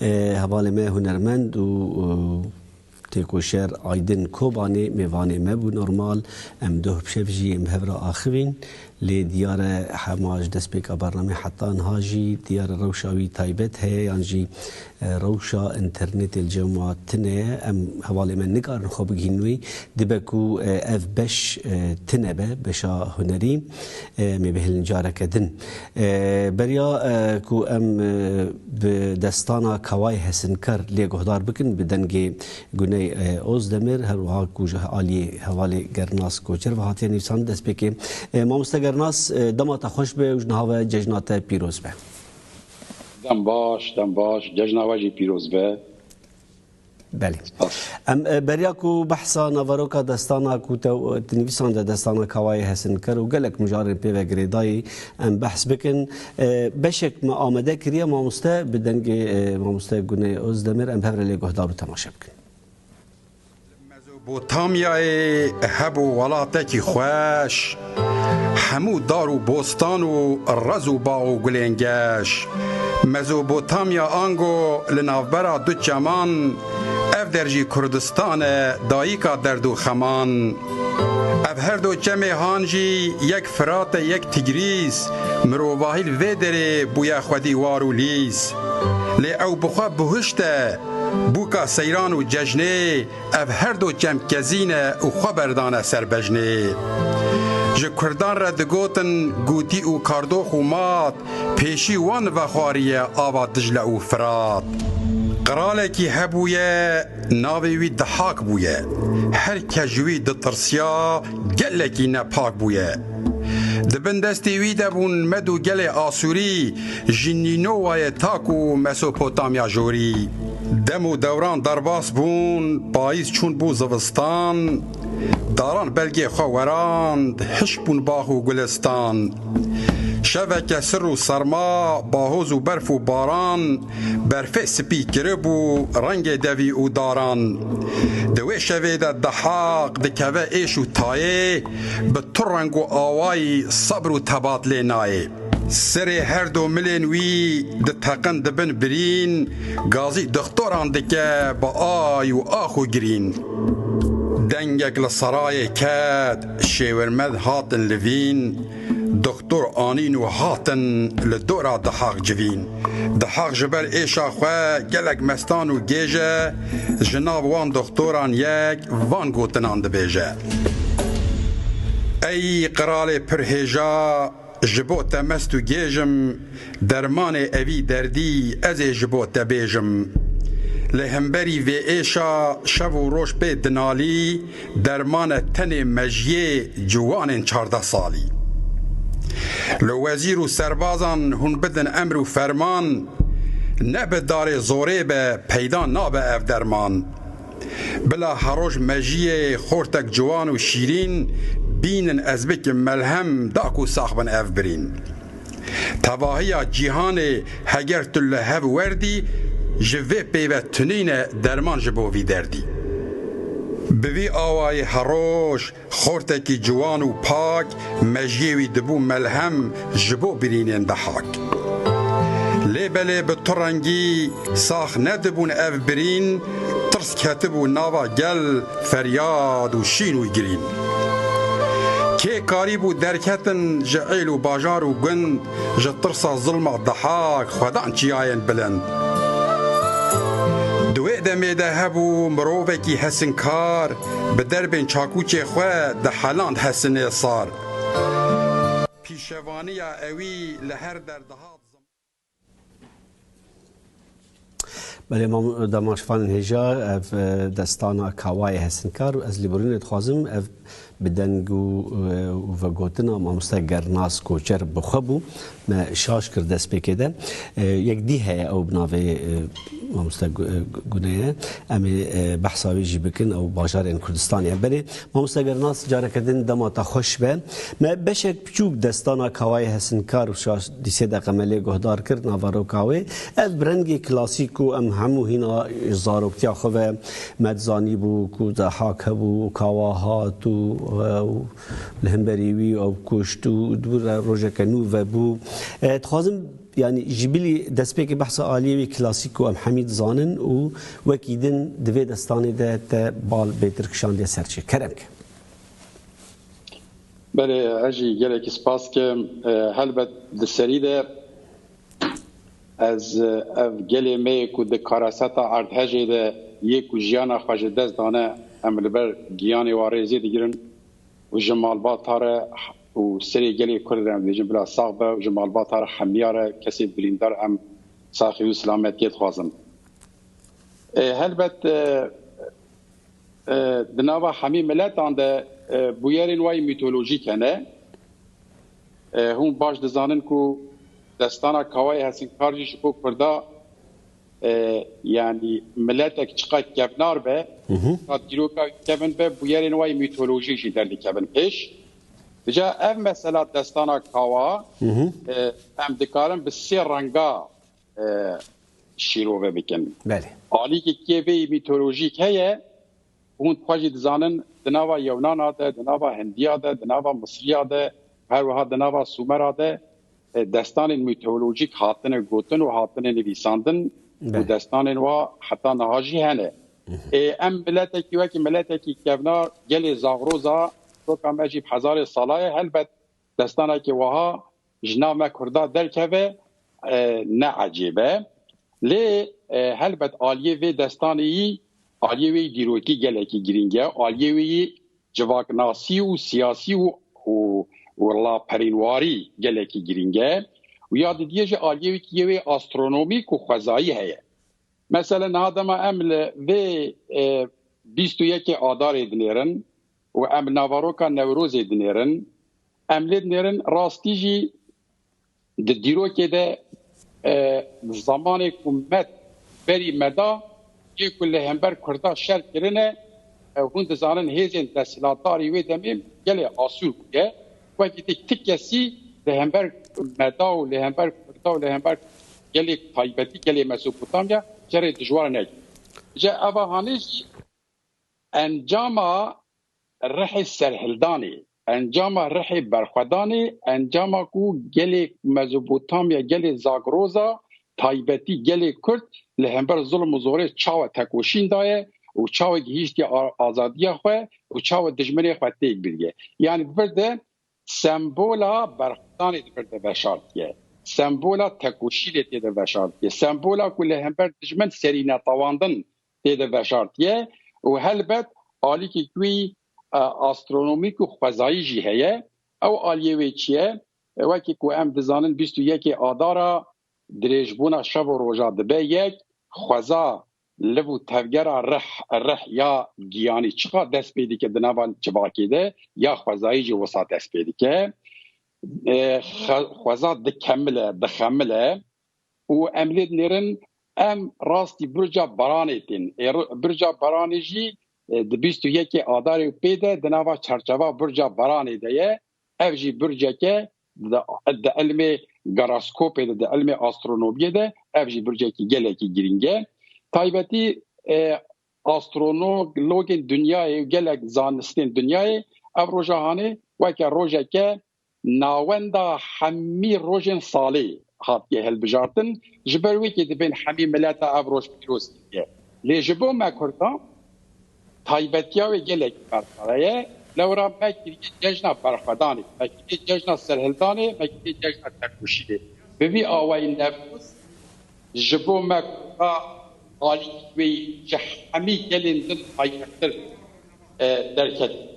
Hevalê me hunermend û têkoşer Aydin Kobanê mêvanê me bû. Normal em doh bi şev jî ên bi hev re axivîn lê diyar e hema ji destpêka bernameyê heta niha jî diyar e rewşa wî taybet heye yan jî rewşa înternetê li cem ma tune ye. Em hevalê me nikarin xwe bigihînin wî. Dibe ku ev beş tune be, beşa hunerî em ê bihêlin careke din. Beriya ku em Bi destana Kaway Hesinkar lê guhdar bikin bi dengê Guney Ozdemir her wiha ku ji aliyê hevalê Gernas Koçer ve hatiye nivîsandin destpêkê. Mamoste Gernas dema te xweş be û ji niha ve cejna te pîroz be. Dem baş, dem baş. Cejna we jî pîroz be. Belê. Em beriya ku behsa naveroka destana ku te di nivîsan de destana Kawayê Hesin kir û gelek mijarên pê ve girêdayî em behs bikin. Beşek me amade kiriye mamoste bi dengê mamoste Guney Ozdemir em hev re lê guhdar û temaşe bikin. Mezopotamyayê hebû welatekî xweş, hemû dar û bostan û rez û bax û gulên geş. Mezopotamya ango li navbera du çeman, ev der jî Kurdistan e dayîka derd û xeman. Ev her do çemê han jî yek Firat e yek Tigrîs, mirovahî li vê derê bûye xwedî war û lîs. Lê ew bi xwe bihuşt e, Bûka seyran û cejnê ev her do çemkezîn e û xwe berdane ser bejnê. Ji kurdan re digotin gûtî û kardox û mat pêşî wan vexwariye ava Dicle û Firat. Qiralekî hebûye navê wî Dihak bûye. Her kes ji wî ditirsiya gelekî nepak bûye. Di bin destê wî de bûn Med û gelê Asûrî ji Nînowayê ta ku Mesopotamya Jorî. Dem û dewran derbas bûn, payîz çûn bû zivistan, daran belgê xwe werand, hişk bûn bax û gulistan. Şeveke sir û serma, bahoz û berf û baran. Berfê spî kiribû rengê devî û daran. Di wê şevê de Dahaq dikeve êş û tayê, bi tu reng û awayî sebr û tebat lê nayê. Serê her du milên wî diteqin di bin birîn, gazî dixtoran dike bi ay û ax û girîn. Dengek li serayê ket, Şêwirmed hatin livîn. Doktor anîn û hatin li dora dihaq civîn. Dihaq ji ber êşa xwe gelek mestan û gêj e, ji nav wan doktoran yek van gotinan dibêje, Ey qiralê pir hêja, ji bo te mest û gêj im, dermanê evî derdî ez ê ji bo te bêjim. Lê himberî vê êşa şev û roj pê dinalî, Dermane tenê mejiyê ciwanên çardeh salî. Li wezîr û serbazan hûn bidin emr û ferman, ne bi darê zorê be peyda nabe ev derman. Bila heroj mejiyê xortek ciwan û şîrîn bînin ez bikim melhem da ku sax bin ev birîn. Tevahiya cîhanê heger tu li hev werdî ji vê pêve tunîne derman ji bo vî derdî. Bi vî awayê heroj xortekî ciwan û pak mejiyê wî dibû melhem ji bo birînên dehak. Lê belê bi tu rengî sax nedibûn ev birîn, Ketibû nava gel feryad û şîn û girîn. Kê karîbû derketin ji êl û bajar û gund ji tirsa zilma dihak xwedan çiyayên bilind. Di wê demê de hebû mirovekî hesinkar bi derbên çakûçê xwe diheland hesinê sar. Pîşevaniya ewî li her der dihat. Belê mam dema şivan hêja ev destana kawayê hesinkar ez lê birûnê dixwazim ev bi deng û vegotina mamoste gernas koçer bi xwe bû me şaş kir destpêkê de yek dî heye ew bi navê mamoste guneye em ê behsa wê jî bikin ew bajarên kurdistanê ye belê mamoste gernas careke din dema te xweş be me beşek Piçûk Destana Kawayê Hesinkar û Şaş dî sê deqeme lê guhdar kir naveroka wê. Ev bi rengê klasîk ku em hemû hîna ji zaroktiya xwe ve me dizanîbû ku Dehak hebû û Kawa hat û ew li hemberî wî ew kuşt û dibû rojeke nû vebû. Dixwazim yanî ji bilî destpêkê behsa aliyê wî klasîk ku em hemî dizanin û wekî din di vê destanê de te bal bê tirkişandiye ser çê. Kerem ke. Belê ez jî gelekî spas dikim. Helbet di serî de ez ev gelê me yê ku di kareseta erdhejê de yê ku jiyana xwe ji dest dane em li ber giyanê wan rêzê digirin û ji malbata re û serê gelê Kurd re em dibêjin bila sax be û ji malbata re hemiya re kesê birîndar em saxiyê û silametiyê dixwazin. Helbet Di nava hemî miletan de bûyerên wayî mîtolojîk hene. Hûn baş dizanin ku destana Kawayê Hesinkar jî ji bo Kurda yanî miletek çiqad kevnar be, çiqad dîroka wî kevn be, bûyerên wayî mîtolojîk jî derdikevin pêş. Îcar ev mesela destana Kawa em dikarin bi sê renga şîrove bikin. Belê. Alîkê kê vê mîtolojîk heye hûn xwe jî dizanin di nava yewnana de, di nava hindiya de, di nava misriya de, her wiha di nava sumera de destanên mîtolojîk hatine gotin û hatine nivîsandin û destanên wa heta niha jî hene. Ê em miletekî wekî miletekî kevnar gelê zagroza doka me jî bi hezarê sala ye helbet Destanekê wiha ji nav me Kurda derkeve ne ecêb e. Lê helbet aliyê vê destanê yî aliyê wê yî dîrokî gelekî girîng e. Aliyê wê yî civaknasî û siyasî û laperînwarî gelekî girîng e. Ya didiyê jî aliyê wê yî yê astronomîk û xwezayî heye. Meselen niha dema em li vê bîst û yekê Adarê dinêrin Û em navaroka Newrozê dinêrin, em lê dinêrin rastî jî di dîrokê de di zemanê ku me berî me da yê ku li hember Kurda şer kirine hûn dizanin hêzên desthilatdarî wê demê gelê asûr bûye wekî te ti kesî li hember me da û li hember Kurda û li hember gelê taybetî gelê Mesopotamya şerê dijwar nekir. Ji evahanê jî Encama rihê serhildanê, encama rihê berxwedanê, encama ku gelê Mezopotamya, gelê Zagroza, taybetî gelê Kurd li hember zilm û zorê çawa tekoşîn daye û çawa gihîştiye azadiya xwe û çawa dijminê xwe têk biriye. Yanî bi vir de sembola berxwedanê di vir de veşartiye, sembola tekoşînê tê de veşartiye, sembola ku li hember dijmin serî netewandin tê de veşartiye û helbet alîkî wî astronomîk û xwezayî jî heye. Ew aliyê wê çi ye? Wekî ku em dizanin bîst û yekê Adar a dirêjbûna şev û roja dibe yek, xweza, liv û tevgera rih, rih ya giyanî çiqas dest pê dike di nava civakê de ya xwezayî jî wisa dest pê dike. Xweza dikemile, dixemile Û em lê dinêrin em rastî Burca Baranê tên. Ê Burca Baranê jî di bîst û yekê Adarê û pê de di nava çarçeva Burca Baranê de ye. Ev jî burceke di ilmê garaskopê de, di ilmê astronomiyê de ev jî burcekî gelekî girîng e. Taybetî astronologên dinyayê û gelek zanistên dinyayê ev roja hanê weke rojeke Navenda hemî rojên salê hatiye hilbijartin, ji ber wê kê divên hemî mileta ev roj pîroz kiriye. Lê ji bo me kurdan taybetiya wê gelekî berdpere ye, lewra me kiriye cejna berxwedanê, me kiriye cejna serhildanê, me kiriye cejna têkoşînê. Bi vî awayî Newroz ji bo me kurdan alî wê ji hemî gelên din taybettir derketiye.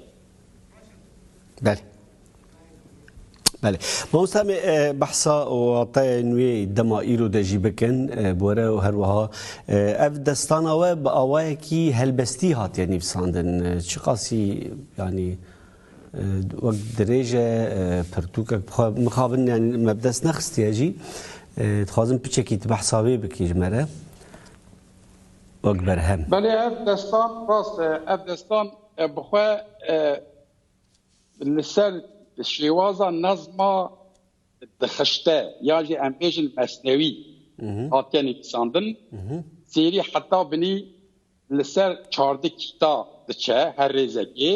Belê. Belê. Mamosta me behsa wateyên wê dema îro de jî bikin bi were û her wiha ev destana we bi awayekî helbestî hatiye nivîsandin. Çi qasî yanî wek dirêj e pirtûkek bi xwe mixabin yanî me bi dest nexistiye jî dixwazim piçekî tu behsa wê bikî ji me re wek berhem. Belê ev destan rast e. Ev destan bi xwe li ser şêwaza nezma dixişte yan jî em bêjin mesnewî hatiye nivîsandin. Sêrî heta binî li ser çardi kîta diçe her rêzekê.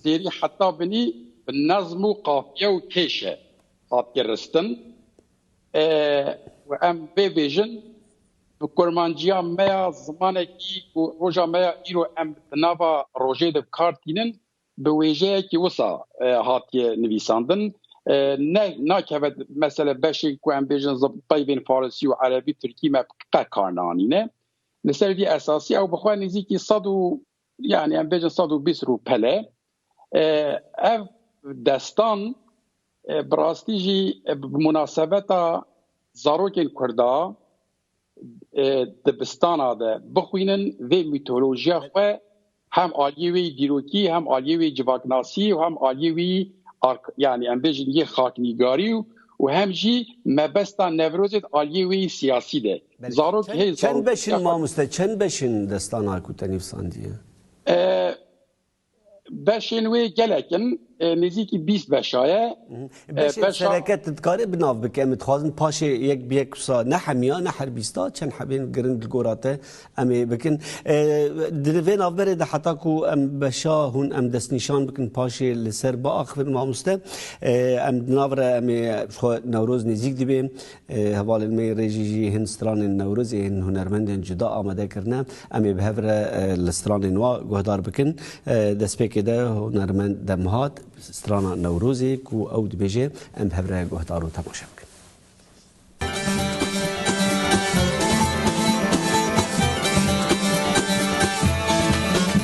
Sêrî heta binî bi nezm û qafiye û kêşe hatiye ristin. Em bê bêjin Bi kurmanciya me ya zimanekî ku roja me ya îro em di nava rojê de bi kar tînin bi wêjeyekî wisa hatiye nivîsandin. Ne nakeve mesele beşên ku em bêjin peyvên farisî û erebî tirkî me qet kar naanîne. Li ser vî esasî ew bi xwe nêzîkî sed û Yani em bêjin sed û bîst rûpele. Ev destan bi rastî jî bi munasebeta zarokên Kurda dibistana de bixwînin vê mîtolojiya xwe hem aliyê wê dîrokî hem aliyê wê civaknasî û hem aliyê wî yani em bêjin yê xaknîgarî û hem jî mebesta Newrozê aliyê wê siyasî de. Zarok hê zarok. Çend beş in mamoste çend beş in destana ku te nivîsandiye? Beşên wê gelek in nêzîkî bîst beşa ye. Beşên sereke tu dikarî bi nav bike em dixwazin paşê yek bi yek wisa ne hemiya ne her bîsta çend hebên giring li gora te em ê bikin. Di vê navberê de heta ku em beşa hûn em destnîşan bikin paşê li ser biaxivin mamoste em di nav re em ê xwe Newroz nêzîk dibê Hevalên me yên rêjî jî hin stranên Newrozê, hin hunermendên cuda amade kirine. Em ê bi hev re li stranên wan guhdar bikin. Destpêkê de hunermend dem hat strana Newrozê ku ew dibêje em bi hev re guhdar û temaşe bikin.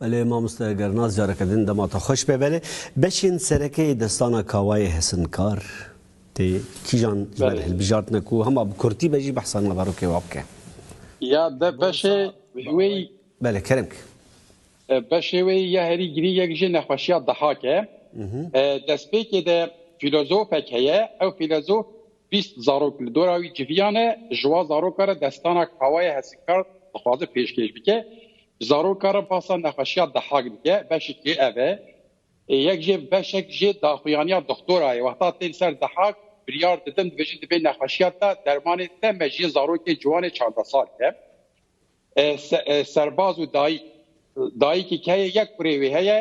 Belê mamoste eger nas careke din dema te xweş pê belê. Beşên serekeyê destana kawayê hesinkar tê kîjan ji ber hilbijartine ku hema bi kurtî be jî behsa naverokê wa bike. Ya be beşê wê Belê kerem ki. Beşê wê ya herî girîng yek jî nexweşiya dihak e. Destpêkê de fîlozofek heye, ew fîlozof bîst zarok li dora wî civiyane, ji wan zarokan re destana kawayê hesinkar dixwaze pêşkêş bike. Ji zarokan re basa nexweşiya dihak dike, beşekê ev e. Yek jê beşek jê daxuyaniya doxtora ye. Wexta tên ser dihak biryar didin dibêjin di vê nexweşiya de dermanê te me ji yê zarokê ciwanê çardeh sal bike. Serbaz û dayîk, dayîkî keyê yek kurê wê heye,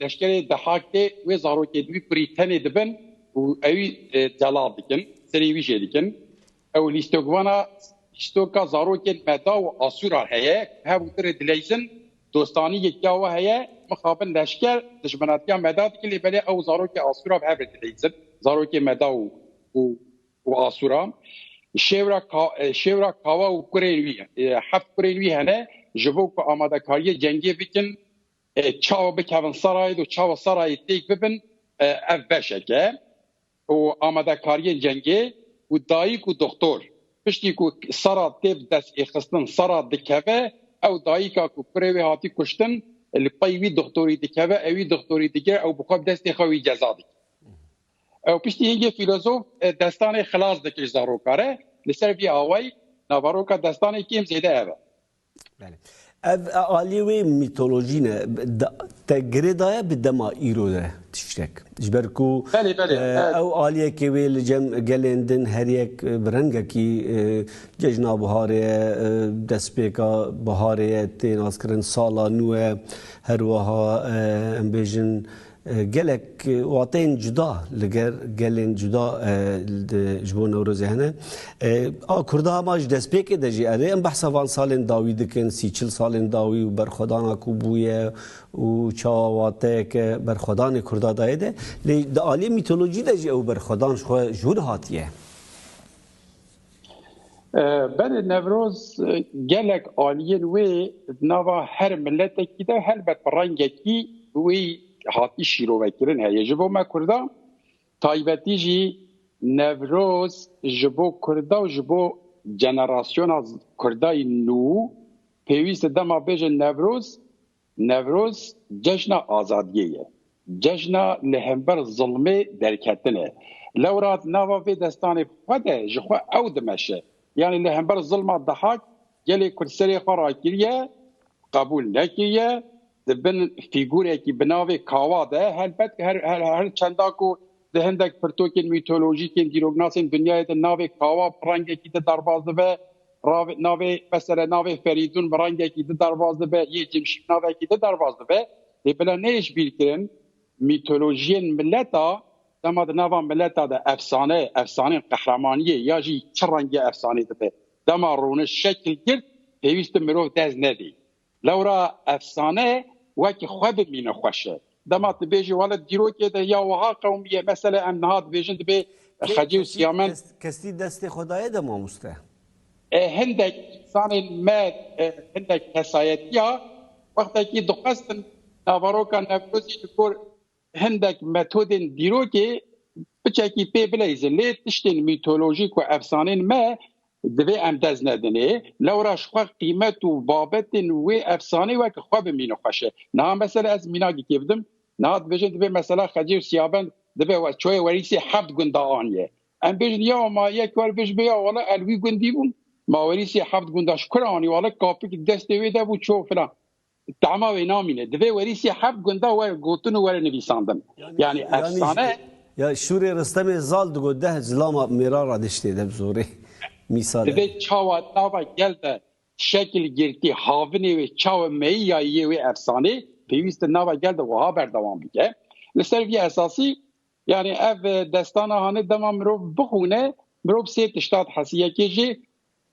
leşkerê dihak tê, wê zarokê di wî kurî tenê dibin û ewî celal dikin, serî wî jê dikin. Ew lîstokvana lîstoka zarokên meda û asûran heye, hev û tirê dileyzin, dostanî yekîya we heye, mixabin leşker dijminatiya meda dikin lê belê ew zarokê asûra bi hev re dileyzin, zarokê meda û û Asûran, şêwra ka şêwra kawa û kurên wî heft kurên wî hene ji bo ku amadekariyê cengê bikin çawa bikevin serayê do çawa serayê têk bibin ev beşek e û amadekariyên cengê û dayîk û doxtor piştî ku sera tê bi dest ê xistin sera dikeve ew dayîka ku kurê wê hatî kuştin li pey wî doxtorî dikeve ewî doxtorî digire ew bi xwe bi destê xwe wî ceza dike. Ew piştî hingê fîlozof destanê xilas dike ji zaroka re. Li ser vî awayî navaroka destanê kêm zêde ev e. Belê. Ev aliyê wê mîtolojî ne. Te girê daye bi dema îro de tiştek. Ji ber ku ew aliyekê wê li cem gelên din her yek bi rengekî cejna biharê ye, destpêka biharê ye tê naskirin, sala nû ye. Her wiha em bêjin Gelek wateyên cuda li ger gelên cuda ji bo Newrozê hene. A Kurda hema ji destpêkê de jî erê em behsa van salên dawî dikin, sî çil salên dawî û berxwedana ku bûye û çawa wateyeke berxwedanê Kurda dayê de. Lê di aliyê mîtolojî de jî ew berxwedan ji xwe ji wir hatiye. Belê Newroz gelek aliyên wê di nava her miletekî de helbet bi rengekî wê hatî şîrovekirin heye. Ji bo me Kurdan taybetî jî Newroz ji bo Kurda û ji bo jenerasyona Kurdayî nû pêwîst e dema bêjin Newroz Newroz cejna azadiyê ye, cejna li hember zilmê derketin e. Lewra di nava vê destanê xwe de ji xwe ew dimeşe, yanî li hember zilma Dihak gelê Kurd serê xwe rakiriye, qebûl nekiriye, di bin fîgûrekî bi navê Kawa de helbet her çenda ku Di hindek pirtokên mîtolojîk ên dîroknasên dinyayê de navê Kawa bi rengekî di derbaz dibe, navê mesele navê Ferîdûn bi rengekî di derbaz dibe, yê Cimşî bi navekî di derbaz dibe. Lê bila neyê ji bîr kirin mîtolojiyên mileta dema di nava mileta de efsane, efsaneyên qehremaniyê ya jî çi rengiya efsaneyê dibe dema rûniş şekil girt pêwîst e mirov dest nedê. Lewra efsane wekî xwe bimîne xweş e. Dema tu bêjî wale di dîrokê de ya wiha qewimî ye, mesele em niha dibêjin dibê xecê û siyamen. Kestî destê xwe daye de mamoste. Hindek însanên me hindek kesayetiya wextekî dixwestin naveroka Newrozî li gor Hindek metodên dîrokê biçekî pê bileyzin lê tiştên mîtolojîk û efsanên me divê em dest nedinê. Lewra ji xwe qîmet û babetên wê efsaneyê weke xwe bimînin xweş e. Niha mesela ez mînagekê bidim, niha dibêjin divê mesela Xecê û Siyabend divê çoyê werîsê heft gunda aniyê. Em bêjin ya ma yek war bêj bê ya wala el wî gundî bûm, ma werîsê heft gunda ji kur anî wala kapik destê wê de bû ço filan. Tahma wê namîne. Divê werîsî heft gunda were gotin û were nivîsandin. Yanî efsane. Ya Şûrê Ristemê Zal digot deh zilama mêra ra diştê de bi zorê. Mîsal e. Divê çawa nava gel de şekil girtî havinê wê çawa meyî ya yê wê efsanê pêwîst e nava gel de wiha berdewam bike. Li ser vî esasî yanî ev destana hane dema mirov bixwîne mirov sê tişta dihesî. Yekê jî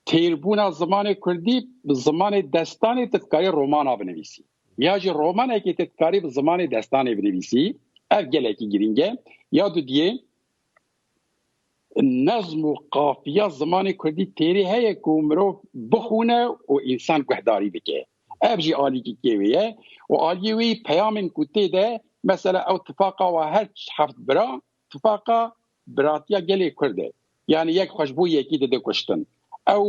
Têrbûna zimanê kurdî bi zimanê destanê tu dikarî romana binivîsî ya jî romanekê tu dikarî bi zimanê destanê binivîsî. Ev gelekî girîng e. Ya du diyê nezm û qafiya zimanê kurdî têrê heye ku mirov bixwîne û însan guhdarî bike. Ev jî alîkîkê wê ye û aliyê wê yî peyamên ku tê de mesela ew tifaqa wa her heft bira Tifaqa biratiya gelê Kurd e. Yanî yek xwe ji bo yekî dide kuştin. Ew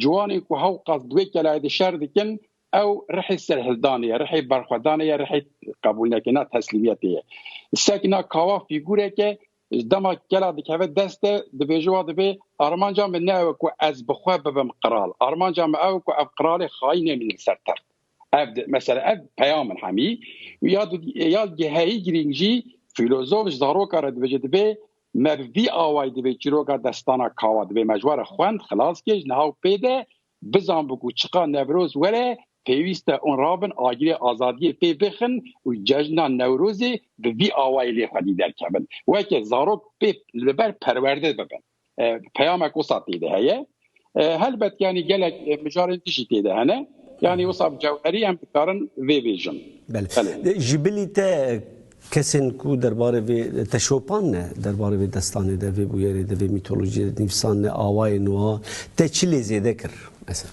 ciwanên ku hewqas di wê kelayê de şer dikin, ew rihê serhildanê ye, rihê berxwedanê ye, rihê qebûlnekirina teslîmiyetê ye. Sekna Kawa fîgûrek e, dema kela dikeve deste dibêje wa divê armanca min ne ew e ku ez bi xwe bibim qral. Armanca min ew e ku ev qralê xayînê min li ser text Ev di mesela ev peyam in hemî ya ya giheyî girîng jî fîlozof ji zaroka re dibêje divê me bi vî awayî divê çîroka destana kawa divê me ji we re xwend xilas kir ji niha û pê de bizan bi ku çiqa Newroz were pêwîst e ûn rabin agirê azadiyê pê bixin û cejna Newrozê bi vî awayî lê xwedî derkevin weke zarok pê li ber perwerde bibin. Peyamek wisa tê de heye. Helbet yanî gelek mijarên din jî tê de hene. Yanî wisa bi cewherî em dikarin vê vêjin. Belê. Ji bilî te kesên ku derbarê vê te şopan ne, derbarê vê destanê de, vê bûyerê de, vê mîtolojiyê de nivîsan ne, awayên wan te çi lê zêde kir mesela?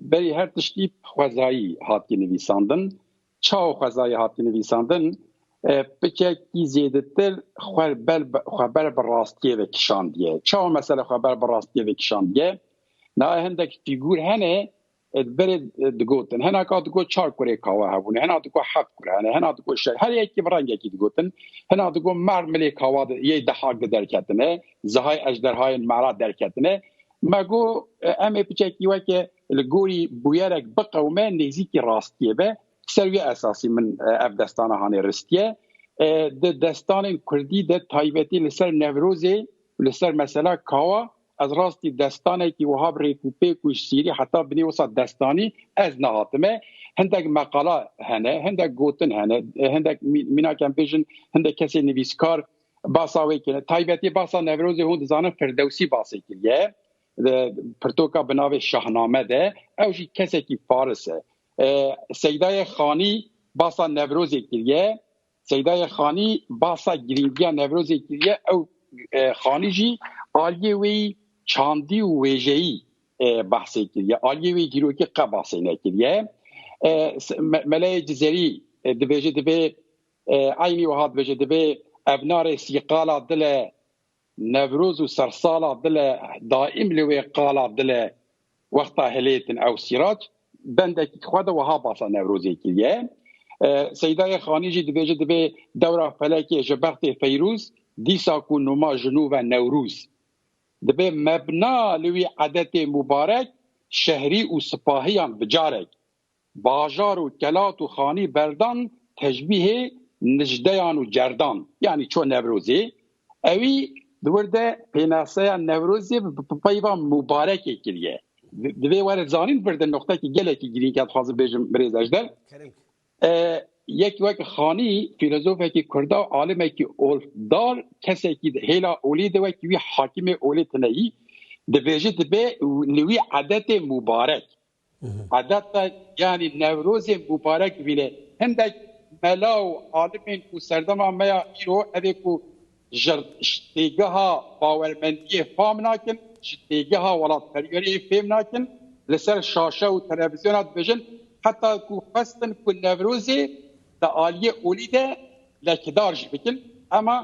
Berî her tiştî xwezayî hatiye nivîsandin. Çawa xwezayî hatiye nivîsandin? Pikekî zêdetir xwe ber bi rastiyê ve kişandiye. Çawa mesela xwe ber bi rastiyê ve kişandiye? Nayê hindek fîgûr hene berê digotin. Hena ka digot çar kurê kawa hebûne, hena digot heft kure hene, hena digot şeş. Her yekî bi rengekî digotin. Hena digot mer milê kawa yê dehak de derketine, zihay ejderhayên mera derketine. Me got em ê piçekî weke li gorî bûyerek biqewime nêzîkî rastiyê be. Ser wî esasî min ev destana hanê ristiye. Di destanên kurdî de taybetî li ser Newrozê li ser mesela kawa ez rastî destanekî wiha bi rêk û pêk û ji sîrî heta binê wisa destanî ez nehatime. Hindek meqala hene, hindek gotin hene, hindek mînakem bêjin hindek kesê nivîskar basa wê kiriye. Taybetî basa Newrozê hûn dizanin Firdewsî basê kiriye di pirtoka bi navê Şahname de ew jî kesekî faris e. Seydayê Xanî basa Newrozê kiriye. Seydayê Xanî basa girîngiya Newrozê kiriye. Ew Xanî jî aliyê wê çandî û wêjeyî behsê kiriye. Aliyê wê dîrokî qe basê nekiriye. Meleyê Cizerî dibêje divê Eynî wiha dibêje, Divê ev narê sîqala dile Newroz û sersala dile daîm li wê qala dile wexta hilêtin ew Sîrac bendekî xwe de wiha basa Newrozê kiriye. Seydayê Xanî jî dibêje, Divê dewra felekê ji bextê Feyrûz dîsa ku numa ji nû ve Newrûz. Divê mebna li wî edetê mûbarek şehrî û sipahiyan bicarek. Bajar û Kelat û Xanî berdan teşbîhê nicdeyan û cerdan yanî ço Newrozê ewî di wir de pênaseya Newrozê bi peyva Mûbarekê kiriye. Di vê were zanîn vir de noqtekî gelekî girîng ya dixwazim bêjim birêz Ejder yek wek Xanî fîlozofekî kurda û alimekî olfdar kesekî di hêla olî de wekî wî hakimê olê tine yî dibêje dibe li wî edetê Mûbarek. Adeta yanî Newrozên bûparek vîne. Hindek mela û alimên ku serdema me ya îro ev ê ku ji têgeha bawermendiyê fam nakin, ji têgeha welatperweriyê fêm nakin, li ser şaşe û televîzyona dibêjin heta ku xwestin ku Newrozê di aliyê olî de lekidar jî bikin. Hema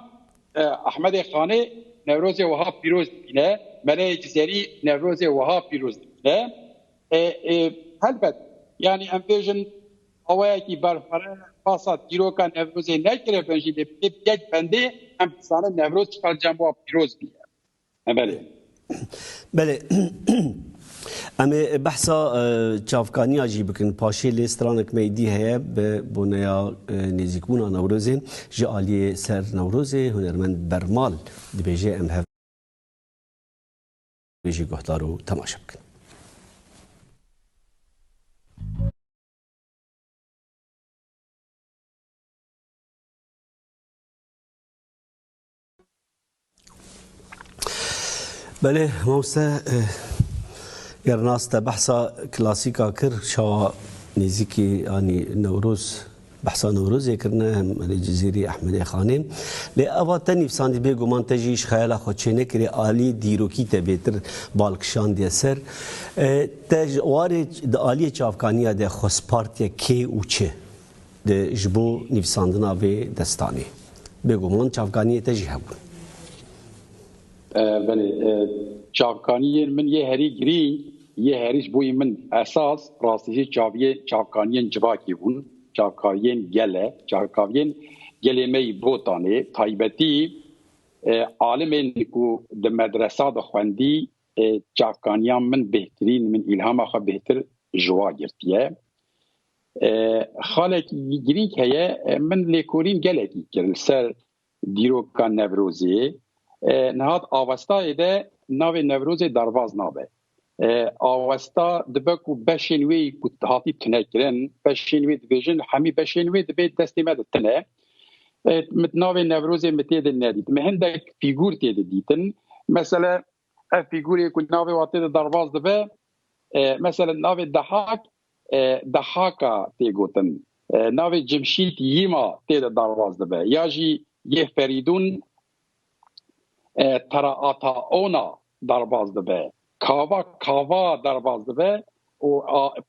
Ehmedê Xanê Newrozê wiha pîroz dibîne, Meleyê Cizerî Newrozê wiha pîroz dibîne. Helbet yanî em bêjin awayekî berxwere pasa dîroka Newrozê nekiribin jî lê bi yek bendê em dizanin Newroz çiqar cem wa pîroz bûye. Belê. Belê. Em ê behsa çavkaniya jî bikin. Paşê lê stranek me dî heye bi boneya nêzîkbûna Newrozê ji aliyê ser Newrozê hunermend Bermal dibêje em hev jî guhdar û temaşe bikin. Belê mawse ger nas te behsa klasîka kir çawa nêzîkî anî Newroz behsa Newrozê kirine hem Elê Cizîrî, Ehmedê Xanê. Lê eva te nîvsandî bêguman te jî ji xeyala xwe çênekirî alî dîrokî te bêtir bal kişandiye ser. Te ji warê di aliyê çavkaniya de xwest partiye kê û çi? Di ji bo nivîsandina vê destanê bêguman çavkaniyê te jî hebûn. Belê, çavkaniyên min yê herî girîng, yê herî ji bo yê min esas rastî jî çavkaniyên civakî bûn, çavkaviyên gel e, çavkaviyên gelê me yî Botanê. Taybetî alimên ku di medresa de xwendî çavkaniyan min bêhtirîn, min îlhama xwe bêhtir ji wa girtiye. Xalekî girîng heye min lêkolîn gelekî kir li ser dîroka Newrozê. Nihat avestayê de navê Newrozê derbaz nabe. Awesta dibe ku beşên wê ku hatî tunekirin, beşên wê dibêjin hemî beşên wê dibê destê me de tune. Min navê Newrozê min tê de nedît. Min hindek fîgûr tê de dîtin. Mesela Ev fîgûrê ku navê watê de derbas dibe, mesela navê Dehak Dehaka tê gotin. Navê Cimşît Yîma tê de derbas dibe. Ya jî yê Ferîdûn Teraataona derbas dibe. Kava Kava derbas dibe û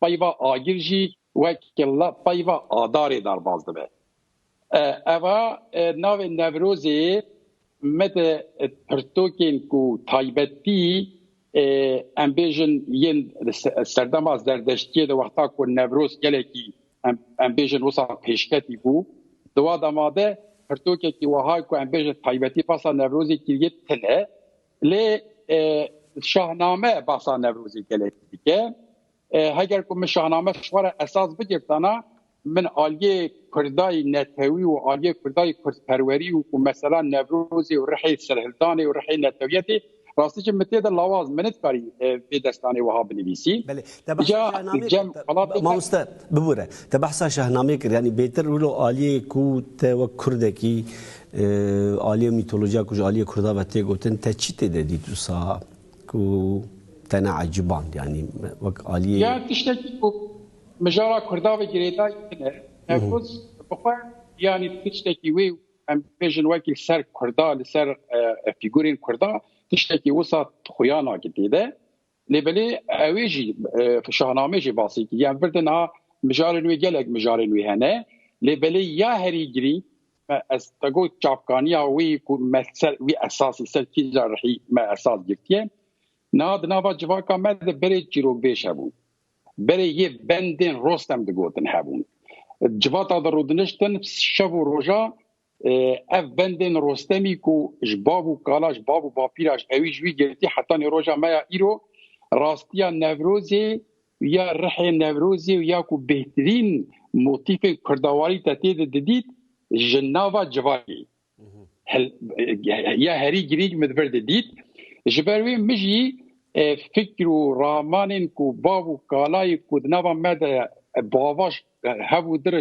peyva Agir jî wek peyva Adarê derbas dibe. Eva navê Newrozê me di pirtokên ku taybetî em bêjin yên serdema zerdeştiyê di wexta ku Newroz gelekî em bêjin wisa pêşketî bû di wa dema de pirtokekî wiha ku em bêjin taybetî basa Newrozê kiriye tune lê Şahname basa Newrozê gelekî dike. Heger ku min şahname ji xwe re esas bigirtana, min aliyê kurdayî netewî û aliyê kurdayî kurdperwerî û ku mesela Newrozê û rihê serhildanê û rihê netewiyetê rastî jî min tê de lawaz min nidkarî vê destanê wiha binivîsî. Belê, te behsa şahnamê kir. Mamoste, bibûre, te behsa şahnamê kir. Yanî bêtir wilo aliyê ku te wek kurdekî aliyê mîtolojiya ku ji aliyê kurda ve tê gotin te çi tê de dît wisa Ku tena eciband yanî wek aliyê. Ya tiştekî ku mijara kurda ve girêdayî din e. Nevrûz bi xwe yanî tiştekî wê û em bibêjin wekî li ser kurda, li ser fîgûrên kurda tiştekî wisa xuya nake tê de. Lê belê ew ê jî Şahnameyê jê basî kir. Yan vir de niha mijarên wê gelek mijarên wê hene. Lê belê ya herî girîng Me ez te got çavkaniya wî ku me ser wî esasî ser kîja rihî me esas girtiye. Niha di nava civaka me de berê çîrokbêj hebûn. Berê yê bendên rostem digotin hebûn. Civata de rûdiniştin şev û roja ev bendên rostemî ku ji bav û kala ji bav û bapîra ji ewî ji wî girtî heta nê roja me ya îro rastiya Newrozê Ya rihê Newrozê û ya ku bêhtirîn motîfên kurdawarî te tê de didît ji nava civakê ya herî girîng min vir didît. Ji ber wê min jî fikr û ramanên ku bav û kalayê ku di nava me de bavaş hev û dir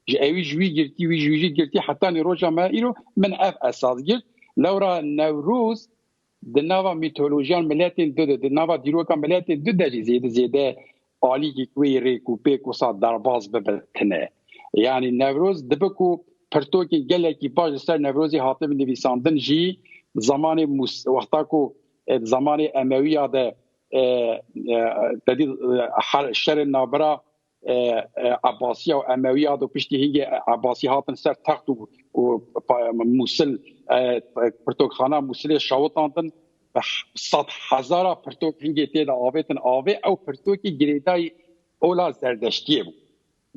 ji ewî ji wî girtî wî ji wî jî girtî hetanî roja me îro min ev esas girt. Lewra Newroz Di nava mîtolojiyan miletên du de, di nava dîroka miletên du de jî zêde zêde alîgîk wê yê rêk û pêk wisa derbas bibe tine. Yanî Newroz dibe ku pirtokên gelekî baş li ser Newrozê hatibin nivîsandin jî zemanê Mûs wexta ku di zemanê Emewiya de tedî şerên navbera Ebasiya û Emewiya do piştî hîngê Ebasî hatin ser text û Mûsil pirtokxana Mûsilê şewitandin bi sed hezara pirtok hîngê tê de avêtin avê ew pirtokî girêdayî ola Zerdeştiyê bû.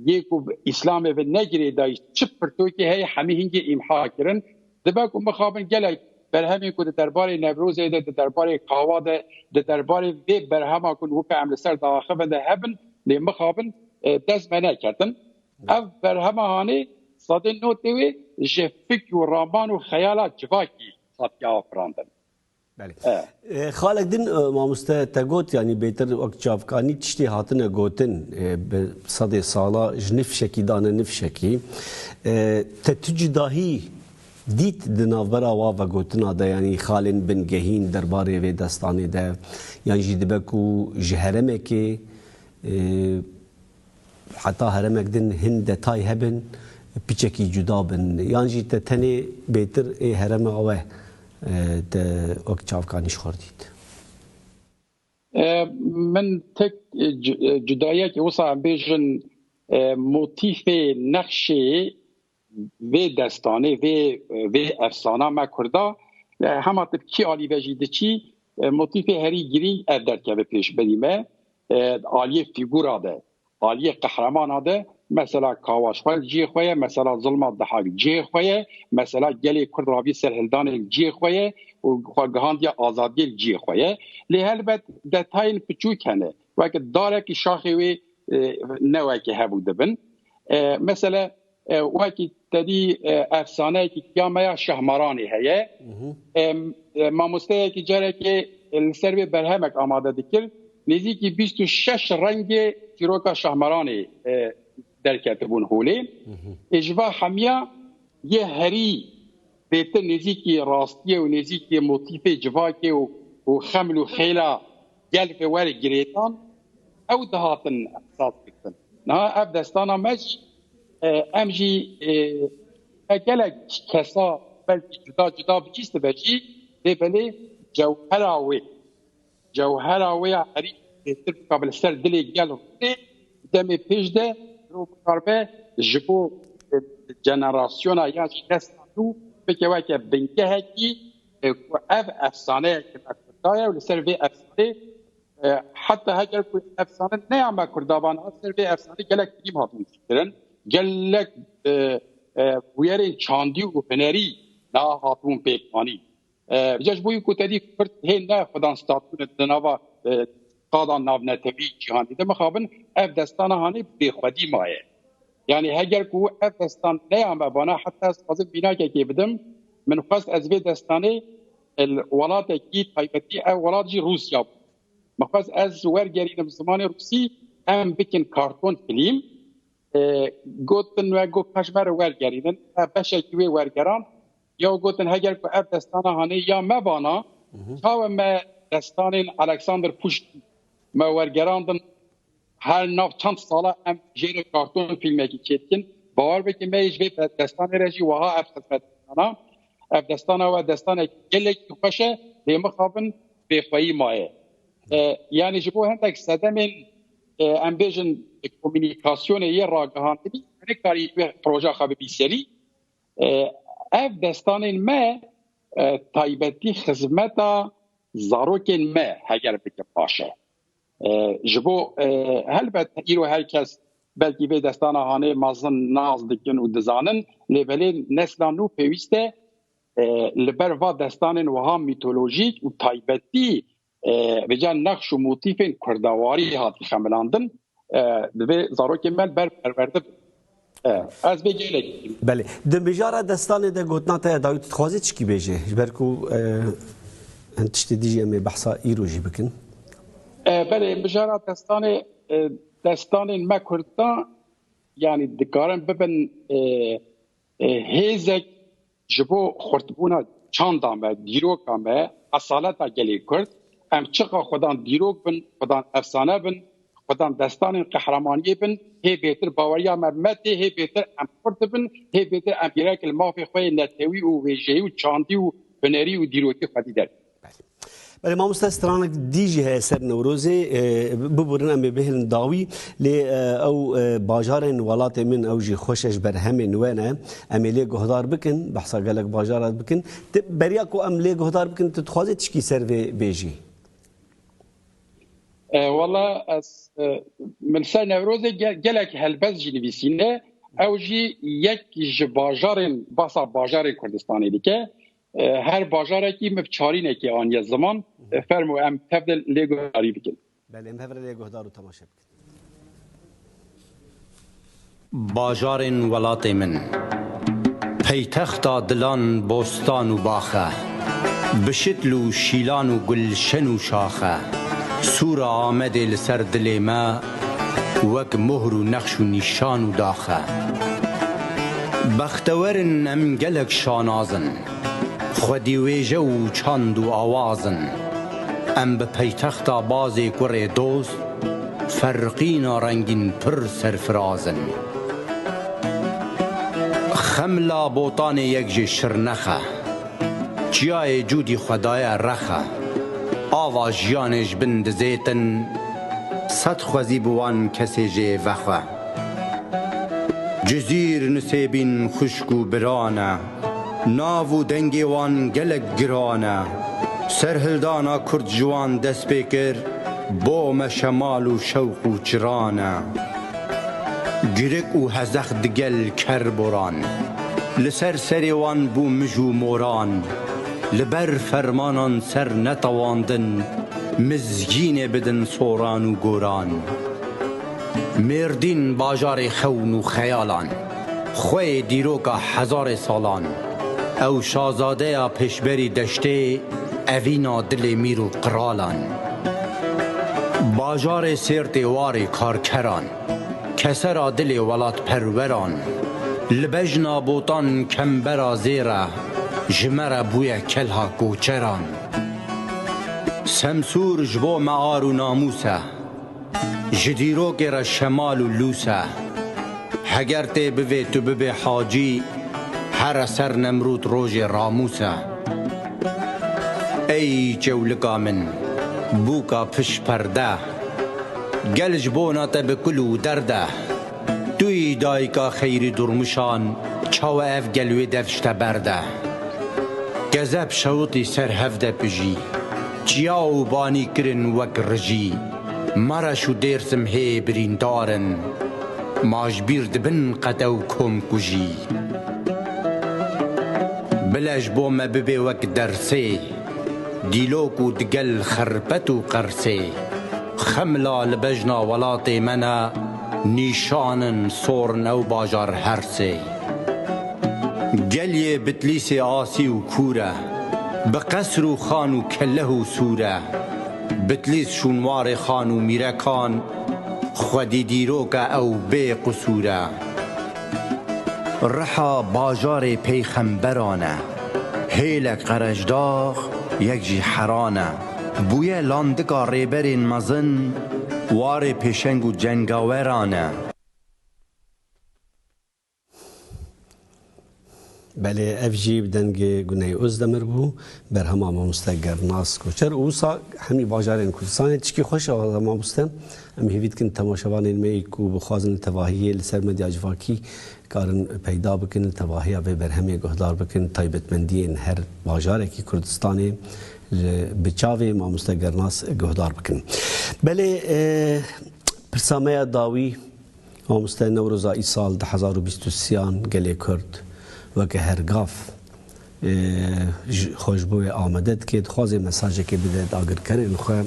Yê ku Îslamê ve ne girêdayî çi pirtokî heye hemî hîngê îmha kirin Dibe ku mixabin gelek berhemên ku di derbarê Newrozê de, di derbarê Kawa de, di derbarê vê berhema ku weke em li ser diaxivin de hebin lê mixabin dest me neketin. Ev berhema hanê sedên notê wê ji fik û raman û xeyala civakî hatiye afirandin. Xalek din mamoste te got yanî bêtir wek çavkanî tiştê hatine gotin bi sedê sala ji nifşekî dane nifşekî te tu cudahî dît di navbera wa vegotina de yanî xalên bin gehîn derbarê vê destanê de yan jî dibe ku ji heremekê Heta heremek din hin detay hebin piçekî cuda bin yan jî te tenê bêtir ê herema we te wek çavkanî ji xwe re dît? Min tek cudayiyekê wisa em bêjin motîfê nexşê Vê destanê vê vê efsana me kurda hema tu kî alî ve jî diçî motîfê herî girîng ev derkeve pêşberî me aliyê fîgûra de aliyê qehramana de mesela kawaşxwez ciyê xwe ye mesela zilma dihak ciyê xwe ye mesela gelê kurd ravî ser hildanê ciyê xwe ye û xwe gihandiye azadiyê ciyê xwe ye lê helbet detayên piçûk hene weke darekî şaxê wê newekê hebû dibin Mesela wekî tedî efsaneyekî ya me ya Şahmaranê heye. Mamosteyekî carekê li ser vê berhemek amade dikir. Nêzîkî bîst û şeş rengê çîroka Şahmaranê derketibûn holê. Ê ji va hemiya yê herî zêtir nêzîkî rastiyê û nêzîkî motîfê civakê û xeml û xêla Gelek bi werê girêdan ew dihatin esas girtin. Niha ev destana me jî em jî me gelek kesa belkî cuda cuda bicîstibe jî lê belê cewhera wê cewhera wê ya herî bêtir bikabe li ser dilê gel rûnê demê pêş de rû bikarbe ji bo jenerasyona ya jî nesla nû bike weke bingehekî Ku ev efsaneya ke me Kurda ye û li ser vê efsanê heta heger ku efsane neya me Kurda ba niha ser vê efsanê gelek filîm hatin çîkirin, gelek bûyerên çandî û hunerî niha hatibûn pêkanîn. Rica ji bo wî ku te dî Kurd hê ne xwedan statû ne di nava Qadan navnetewî cîhanê de mixabin ev destana hanê bê xwedî maye. Yanî heger ku ev destan neya me vana heta ez dixwazim vînakekê bidim min xwest ez vê destanê li welatekî taybetî ew welat jî Rûsya bû min xwest ez wergerînim zimanê rûsî em bikin karton filîm gotin we got paşmer wergerînin beşekî wê wergeran Yew gotin heger ku ev destana hanê ya me vana, çawe me destanên Alexander Puşkin me wergerandin her nav çend sala em jê re karton fîlmekî çêdikin. Bawer bike me yê ji vê destanê re jî wiha ev xizmet dana. Ev destana we destanekî gelekî xweş e, lê mixabin bêxweyî maye. Yanî ji bo hindek sedemên em bêjin komûnîkasyonê yê ragihandinî nekarî proja xwe bibî serî. Ev destanên me taybetî xizmeta zarokên me heger bikin baş e. Ji bo helbet îro her kes belkî vê destana hanê mezin nas dikin û dizanin lê belê nesla nû pêwîste li ber va destanên wiha mîtolojîk û taybetî Rica nexş û motîfên kurdawarî hat xemilandin divê zarokên me li ber perwerde bin. Ez vê gelekî dîm. Belê. Di mijara destanê de gotina te ya dawî tu dixwazî çikî bêjî ji ber ku hin tiştê dijî em ê behsa îro jî bikin. Belê mijara destanê destanên me kurdan yanî dikarin bibin Hêzek ji bo xurtbûna çanda me, dîroka me, esaleta gelê Kurd, em çiqa xwedan dîrok bin, xwedan efsane bin, xwedan destanên qehremaniyê bin, hê bêtir baweriya me metê, hê bêtir em xurt bin, hê bêtir em bîrekê li mafê xwe yê netewî û wêjeyî û çandî û hunerî û dîrokî xwedî derkevin. Belê mamosta stranek dî jî heye ser Newrozê biburin em ê bihêlin dawî lê ew bajarên welatê min ew jî xweş e ji ber hemên we ne em ê lê guhdar bikin behsa gelek bajar re bikin tu beriya ku em lê guhdar bikin tu dixwazî tişkî ser vê bêjî. Wala ez min ser Newrozê gelek helbest jî nivîsîne ew jî yek ji bajarên behsa bajarên Kurdistanê dike Her bajarekî min çarînekê aniye ziman. Fermo em tev de lê guhdarî bikin. Belê em hev re lê guhdar û temaşe bikin. Bajarên welatê min. Peytexta dilan bostan û bax e. Bi şitl û şîlan û gulşen û şax e. Sûra Amedê li ser dilê me. wek mohr û nexş û nîşan û dax e. Bextewer in em gelek şanaz in, xwedî wêje û çand û awaz in. Em bi peytexta bazê kurê dost, ferqîna rengîn pir serfiraz in. Xemla Botanê yek ji Şirnex e. Çiyayê cûdî xwe daye rexe. Ava jiyanê ji bin dizêtin, sed xwezî bi wan kesê jê vexwe. Cizîr Nisêbîn xwişk û biran e. Nav û dengê wan gelek giran e. Serhildana Kurd ji wan dest pê kir, bo me şemal û şewq û çiran e. Girik û hezex digel ker boran. Li ser serê wan bû mij û moran, li ber fermanan ser netewandin mizgînê bidin soran û goran. Mêrdîn bajarê xewn û xeyalan, xweyê dîroka hezarê salan. Ew şazadeya pêşberî deştê, evîna dilê mîr û qiralan. Bajarê Sêrtê warê karkeran. Kesera dilê welatperweran li bejna botan kembera zê re ji me re bûye kelha koçeran. Semsûr ji bo me ar û namûs e, ji dîrokê re şemal û lûs e. Heger tê bivê tu bibê hacî, here ser Nemrûd rojê ramûs e. Ey çewlika min, bûka piş perde. Gel ji bona te bi kul û derd e. Tu yî dayika xeyrî durmuşan, çawa ev gel wê dev şite ber de. Gezeb şewitî ser hev de pijî. Çiya û banî kirin wek rijî. Mereş û Dêrsim hê birîndar in. Ma ji bîr dibin qete û komkujî. Bile ji bo me bibê wek dersê. Dîlok û digel xerpet û qersê, xemla li bejna welatê me ne nîşan in sorn ew bajar hersê. Gel yê Bitlîsê asî û kûr e, bi qesr û xan û kelleh û sûr e. Bitlîs şûnwarê xan û mîrekan, xwedî dîrok e ew bê qusûr e. Riha bajarê peyxemberan e. Hêlek qereçdax yek jî heran e. Bûye landika rêberên mezin, warê pêşeng û cengaweran e. Belê ev jî bi dengê Guney Ozdemir bû, berhema mamoste Gernas Koçer û wisa hemî bajarên Kurdistanê. Tişkî xweş e wazde mamoste. Em hêvî dikin temaşevanên me yî ku bixwazin li tevahiyê li ser medya civakî Karin peyda bikin li tevahiya vê berhemê guhdar bikin taybetmendiyên her bajarekî Kurdistanê li bi çavê Mamoste Gernas guhdar bikin. Belê pirsa me ya dawî Mamoste Newroza îsal di hezar û bîst û sî yan gelê Kurd weke her gav, xwe ji bo wê amade dike, dixwaze mesajekê bide dagirkerên xwe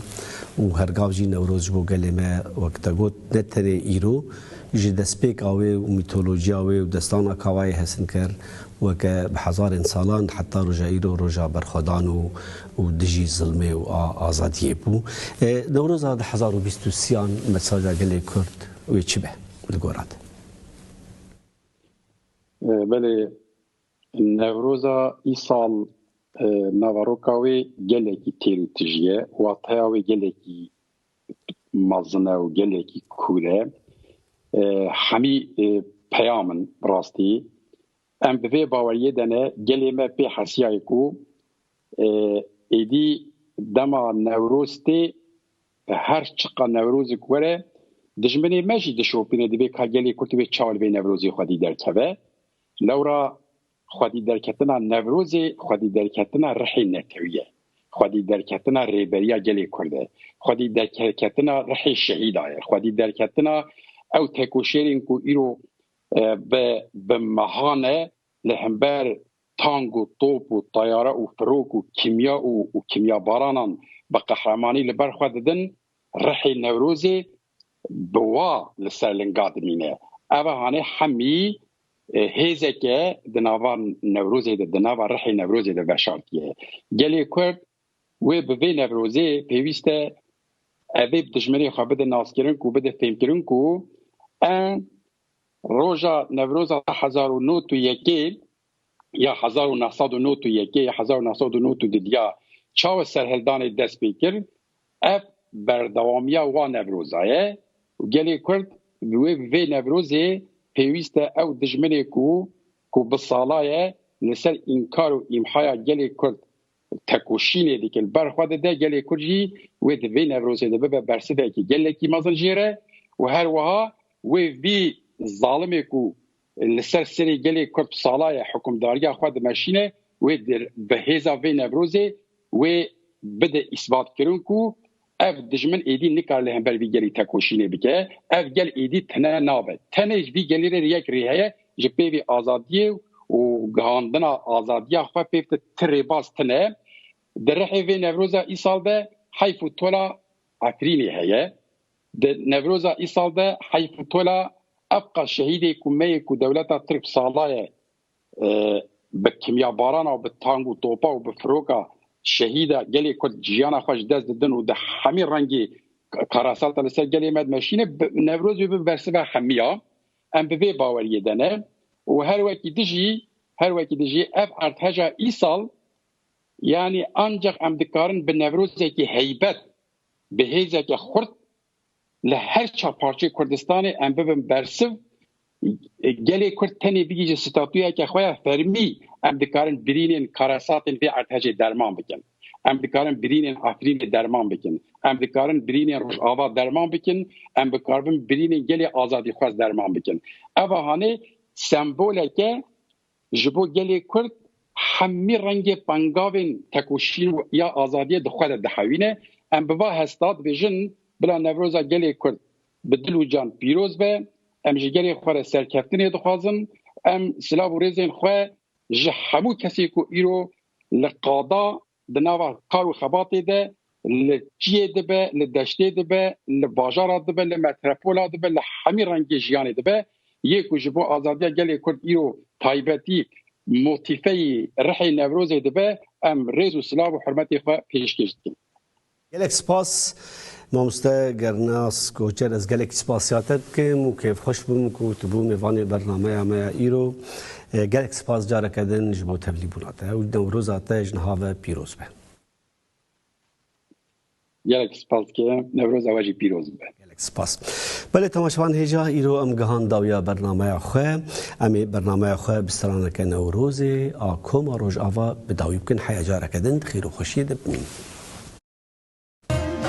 û her gav jî Newroz ji bo gelê me wek te got ne tenê îro ji destpêka wê û mîtolojiya wê û destana kawayê hesin kir weke bi hezarên salan heta roja îro roja berxwedan û û dijî zilmê û a azadiyê bû. Newroza du hezar û bîst û sî an mesaja gelê Kurd wê çi be li gora te? Belê Newroza îsal naveroka wê gelekî têr û tij ye, wateya wê gelekî mezin e û gelekî kûr e. Hemî peyam in bi rastî. Em bi vê baweriyê de ne gelê me pê hesiyayê ku êdî dema Newroz tê her çiqa Newrozik were dijminê me jî dişopîne divê ka gelê Kurd wê çawa li vê Newrozê xwedî derkeve. Lewra xwedîderketina Newrozê xwedîderketina rihê netewî ye, xwedîderketina Rêberiya Gelê Kurd e, xwedîderketina rihê şehîda ye, xwedîderketina ew tekoşêrên ku îro bi bi meha ne li hember tank û top û teyare û firok û kîmya û kîmyabaranan bi qehremanî li ber xwe didin Rihê Newrozê bi wa li ser linga dimîne. Ev e hanê hemî hêzeke di nava Newrozê de, di nava rihê Newrozê de veşartiye. Gelê Kurd wê bi vê Newrozê pêwîst e evê bi dijminê xwe bide naskirin ku bide fêmkirin ku em roja Newroza hezar û nod û yekê ya hezar û neh sed û nod û yekê ya hezar û neh sed û nod û du diya çawa serhildanê dest pê kir, ev berdewamiya wan Newroza ye û gelê Kurd bi wê bi vê Newrozê pêwîst e ew dijminê ku ku bi sala ye li ser înkar û îmhaya gelê Kurd tekoşînê dike li ber xwe dide, gelê Kurd jî wê di vê Newrozê de bibe bersivekî gelekî mezin jê re û her wiha wê vî zalimê ku Li ser serê gelê Kurd sala ye hukimdariya xwe dimeşîne wê dir. Bi hêza vê Newrozê wê bide îsbatkirin ku ev dijmin êdî nikare li hember vî gelî tekoşînê bike. Ev gel êdî tune nabe. Tenê ji vî gelê re yek rê heye ji pêvê azadiyê û gihandina azadiya xwe pê bike. Ti rêbaz tune. Di rihê vê Newroza îsal de heyf û tola Efrînê heye. Di Newroza îsal de heyf û tola ev qas şehîdê ku me yê ku dewleta Tirk sala ye bi kimyabarana û bi tang û topa û bi firoka şehîda gelê Kurd jiyana xwe ji dest didin û di hemî rengê karasata li ser gelê me dimeşîne Newroz wê bibe bersiva hemiya. Em bi vê baweriyê de ne û her wekî di jî her wekî di jî ev erdheja îsal yanî ancaq em dikarin bi Newrozekî heybet Bi hêzeke xurt li her çar parçeyê Kurdistanê em bibin bersiv, gelê Kurd tenê bigihîje statuyeke xwe ya fermî, em dikarin birînên karesatên vê erdhejê derman bikin. Em dikarin birînên Efrînê derman bikin. Em dikarin birînên Rojava derman bikin. Em bikaribin birînên gelê azadîxwez derman bikin. Ev a hanê semboleke Ji bo gelê Kurd hemî rengê pengavên tekoşîn û ya azadiyê di xwe de dihewîne. Em bi va hesta dibêjin, Bila Newroza gelê Kurd bi dil û can pîroz be. Em ji gelê xwe re serkeftinê dixwazin. Em silav û rêzên xwe ji hemû kesê ku îro li qada Di nava kar û xebatê de li çiyê dibe, li deştê dibe, li bajara dibe, li metrepola dibe, li hemî rengê jiyanê dibe. Yê ku ji bo azadiya gelê Kurd îro taybetî motîfeyî rihê Newrozê dibe, em rêz û silav û hurmetê xwe pêşkêş dikin. Gelek spas mamoste Gernas Koçer ez gelekî spasiya te dikim û kêfxweş bûm ku tu bû mêvanê bernameya me ya îro. Gelek spas careke din ji bo tevlîbûna te û newroza te ji niha ve pîroz be. Gelek spas dike, newroza we jî pîroz be. Gelek spas. Belê temaşevan hêja îro em gihan dawiya bernameya xwe. Em ê bernameya xwe bi straneke Newrozê a Koma Rojava bi dawî bikin heya careke din di xêr û xweşiyê de bimînin.